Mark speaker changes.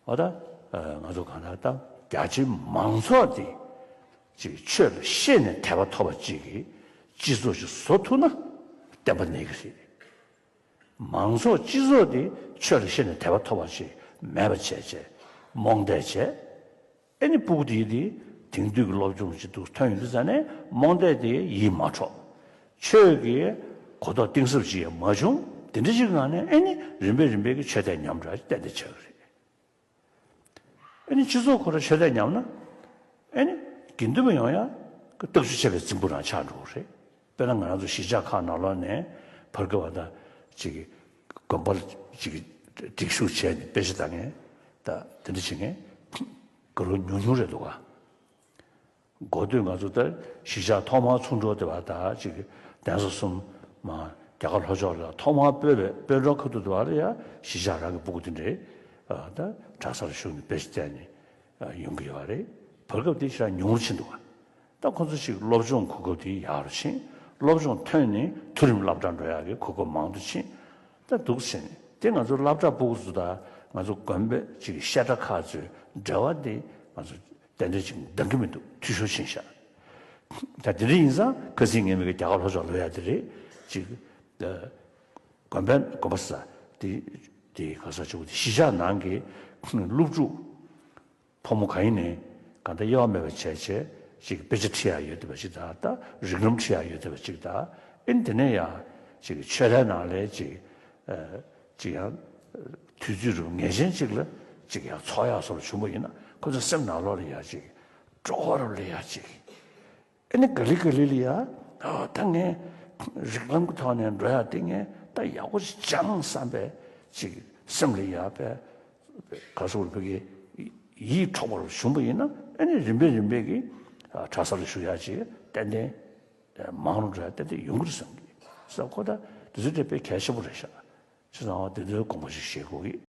Speaker 1: ཨོ་ད། ང་ཚོ་གང་ལྟར་བཏང། རྒྱ་ཆེའི་མང་ཚོགས་དེ་ཅིག་ཆོས་ལ་ཤེས་ནས་དད་པ་ཐོབ་པ་ཅིག་གིས་སྤྱི་ཚོགས་ཤིག་བཟོ་ཐུབ་ན་བསྟན་པ་གནས་ཀྱི་རེད། མང་ཚོགས་སྤྱི་ཚོགས་དེ་ཆོས་ལ་ཤེས་ནས་དད་པ་ཐོབ་པ་ཅིག་མེད་པ་བྱས་བྱས་རྨོངས་དད་བྱས། ཨེ་ནི་པུཀ་ཏི་ཡིས་དེ་དེང་དུས་ཀྱི་སློབ་སྦྱོང་ཅིག་ཏུ་ཐོན་ཡོད་འདུག་ཟེར་ནས་རྨོངས་དད་དེ་ཡིད་མ་འཕྲོག། ཆོས་ཀྱི་གོ་རྟོགས་གཏིང་ཟབ་ཅིག་ཡང་མ་བྱུང། དེ་འདྲ་ཞིག་གི་ངང་ནས་ཨེ་ནི་རིམ་པས་རིམ་པས་ཀྱི་ཆོས་དད་ཉམས་དྲག་ཅིག་གཏན་འདེད་བྱ་གི་རེད། ཨེ་ནི་སྤྱི་ཚོགས་ཁོ་ར་ཆོས་དད་ཉམས་ན་ཨེ་ནི་དགེ་འདུན་པ་ཡོང་ཡང་ཀྱི་སྟོབས་ཤུགས་ཆེ་བའི་རྫིང་བུ་རང་ཆགས་འགྲོ་གི་རེད། དཔེར་ན་ང་རང་ཚོ་གཞིས་ཆགས་ཁག་ནང་ལོགས་ནས་བར་བརྒལ་བ་དང། དགོན་པར་སྒྲིག་ཞུགས་བྱས་ནས་དཔེ་ཆ་ལྟ་མཁན་དང་དེ་འདྲ་བྱེད་མཁན་དགེ་སློབ་ཉུང་ཉུང་རེད་འདུག་ག། མགོ་སྟོད་ང་ཚོ་ལྟར་གཞིས་ཆགས་ཐོག་མར་ཚུར་འགྲོ་བདེ་བ་དང་གདན་ས་གསུམ་མ་རྒྱ་གར་ལྷོ་ཕྱོགས་ལ་ཐོག་མར་སྤོས་པའི་དཔོན་གྲོང་ཁ་ཐུག་བདེ་བ་ལ་ཡང་གཞིས་ཆགས་རང་གི་སྤུ་གུ་དེ་འདྲའི་གྲྭ་ས་ལ་ཞུགས་ནས་དཔེ་ཆ་བལྟས་ནས་ཡོང་གི་ཡོད་རེད། བར་བརྒལ་བ་དེ་ཧྲ་ཉུང་ཉུང་ཆེ་འདུག་ག། ད་ཁོ་ཚོ་ཞིག་སློབ་སྦྱོང་གོ་སྐབས་དེ་ཡག་རུ་ཕྱིན། སློབ་སྦྱོང་ཐོན་ནས་མཐོ་རིམ་སླབ་གྲྭ་འགྲོ་ཡག་གི་གོ་སྐབས་མང་དུ་ཕྱིན། ད་སྡུག་ཟེར་ནི་དེ་ང་ཚོ་སླབ་གྲྭ་པུ་གུ་ཚོ་དང་ང་ཚོ་དགོན་པའི་སྤྱི་ཀྱི་བཤད་གྲྭ་ཁག་ཚོའི་འབྲེལ་བ་དེ་ང་ཚོ་གཏན་འབྲེལ་ཅིག་འདང་གི་མི་འདུག་འཐུས་ཤོར་ཕྱིན་ཤག་ད་དེ་འདྲ་ཡིན་ཙང་ཁ་ཚིག་ངན་མི་དགོས་རྒྱ་གར་ལྷོ་ཕྱོགས་ལོ་ཡག་དེ་རེད་ཅིག་དགོན་པའི་དགོན་པ་ས་དེ་དེ་ག་ས་ཆུ་བོ་དེ་གཞིས་ཆགས་ནང་གི་སློབ་ཕྲུག་ཕོ་མོ་གང་ཡིན་ནས་གང་ལྟར་དབྱེ་བ་མེད་པར་བྱས་བྱས་ཅིག་དཔེ་ཆ་ཁྲི་ཡར་ཡོད་དེ་བ་ཅིག་དག་ད་རིགས་ལམ་ཁྲི་ཡར་ཡོད་དེ་བ་ཅིག་དག་ཨིན་དེ་ནས་ཡང་ཅིག་ཆོས་ལྷའི་ནང་ལས་ཅིག་ཅིག་ཡང་དུས་ཚོད་རུ་ངེས་ཅན་ཅིག་ལ་ཅིག་ཡང་ཚོགས་ཡག་སོགས་ལ་བྱུང་བ་ཡིན་ན་ཁོ་ཚོ་སེམས་ནང་ལོག་ལ་ཡག་ཅིག་སྤྲོ་བ་རུ་ལ་ཡག་ཅིག། ཨེ་ནི་ག་ལི་ག་ལི་ལི་ཡ། ད་ངས་རིགས་ལམ་གྱི་ཐོག་ནས་འགྲོ་ཡག་འདི་ངས་ད་ཡག་པོ་ཞིག་སྦྱངས་བསམ་པས་ཅིག་སེམས་ལ་ཡག་པས། ག་སོག་རུ་ཕེབས་ཀྱི་ཡིད་འཕྲོག་པར་བྱུང་བ་ཡིན་ན་ཨེ་ནི་རིམ་པས་རིམ་པས་ཀྱི་གྲྭ་ས་ལ་ཞུགས་ཡག་ཅིག་ཏན་ཏན་མང་རུང་འགྲོ་ཡག་ཏན་ཏན་ཡོང་གི་རེད་བསམ་གི་བསམ་ཁོ་ད་དེ་ཚོའི་སྒྲས་དཔེ་གལ་ཆེན་པོ་རེད་ཤག་ཅེས་སྣང་བ་དེ་ཚོའི་དགོངས་པ་ཞིག་བཞེས་དགོས་ཀྱི།